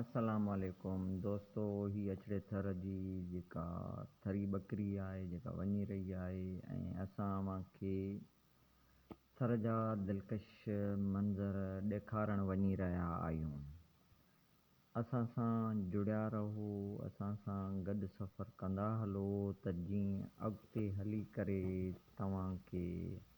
السلام عليڪم دوستو اھي اڇڙي ٿر جي جيڪا ٿري ٻڪري آھي جيڪا وڃي رھي آھي ۽ اسان اوھان کي ٿر جا دلڪش منظر ڏيکارڻ وڃي رھيا آھيون اسان سان جڙيا رھو اسان سان گڏ سفر ڪندا ھلو ته جيئن اڳتي ھلي ڪري توھان کي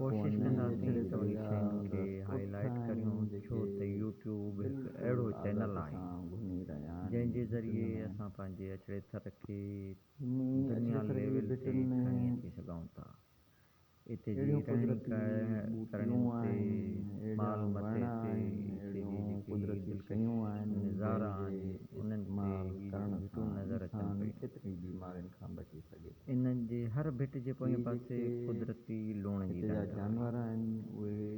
ڪوشش ڪنداسين ته اهي شين کي هائي لائيٽ ڪريون ڇو ته يو ٽيوب هڪ اهڙو چينل آهي جنهن جي ذريعي اسان پنهنجي اچڙي ٿر کي دنيا ليول تي کڻي اچي سگهون ٿا اتي جي رهڻي ڪرڻي اتي مال متي تي اتي جي جيڪي دلڪش نظارا آهن انهن تي هي گهٽون نظر اچن پيون. ان جي هر ڀٽ جي پوئين پاسي قدرتي لوڻ جي ڍنڍ آهي.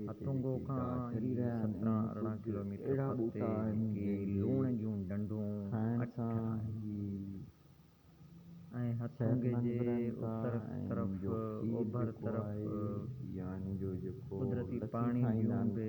هٿونگو کان ئي سترهن ارڙهن ڪلوميٽر پرتي جيڪي لوڻ جون ڍنڍون اٺ آهن ۽ هٿونگي جي اتر طرف اوڀر طرف قدرتي پاڻي جون به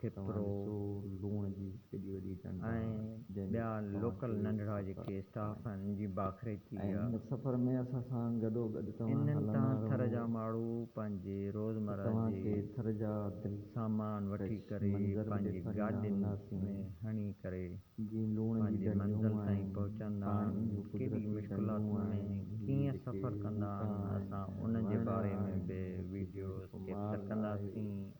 کپرو، لوڻ جي ايڏي وڏي ٽنڊ ۽ ٻيا لوڪل ننڍڙا جيڪي اسٽاف آهن ان جي باکري ٿي آهي. ان سفر ۾ اسان سان گڏو گڏ توهان هلندا رهو. انهن تان ٿر جا ماڻهو پنهنجي روزمره جي سامان وٺي ڪري پنهنجي گاڏين ۾ هڻي ڪري پنهنجي منزل تائين پهچندا آهن. ڪيڏي مشڪلاتن ۾ ڪيئن سفر ڪندا آهن اسان ان جي باري ۾ به وڊيوز ڪيپچر ڪنداسين.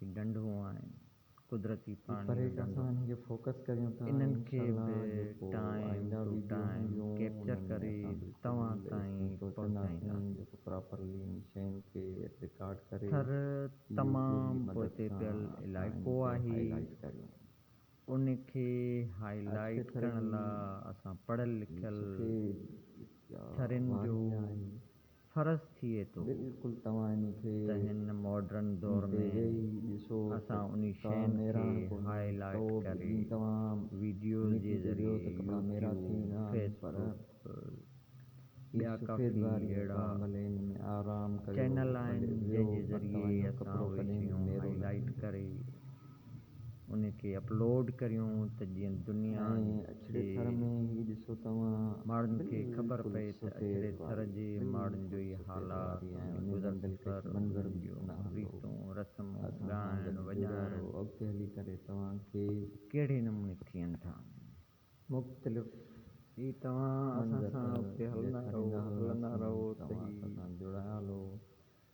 هي ڍنڍون آهن قدرتي پاڻي جو ڍنڍو انهن کي به ٽائيم ٽو ٽائيم ڪيپچر ڪري توهان تائين پهچائينداسين ٿر تمام پوئتي پيل علائقو آهي ان کي هاء لائيٽ ڪرڻ لا اسان پڙهيل لکيل ٿرين جو فرض ٿئي ٿو ته هن ماڊرن دور ۾ اسان انهي شين کي هاء لائيٽ ڪري ويڊيوز جي ذريعي يوٽيوب، فيس بڪ ٻيا ڪافي اهڙا چينل آهن جنهن جي ذريعي اسان اهي شيون هاء لائيٽ ڪري. ان کي اپلوڊ ڪريون ته جيئن دنيا جي ماڙن کي خبر پئي ته اڇڙي ٿر جي ماڙن جو ئي حال آ ۽ گذر سفر انهن جون ريتون رسمون ڳائڻ وڄائڻ ڪهڙي نموني ٿين ٿا.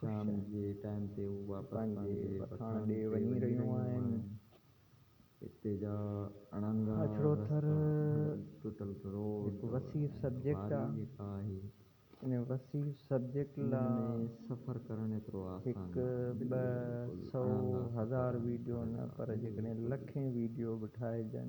شام جي ٽائيم تي هو واپس پنهنجي پٺاڻ ڏي وڃي رهيون آهن. هتي جا اڻانگا رستا، ٽٽل روڊ، هڪ وسيع سبجيڪٽ آهي. ان وسيع سبجيڪٽ لا هڪ، ٻه، سؤ، هزار ويڊيو نه پر جيڪڏهن لکين ويڊيو به ٺاهجن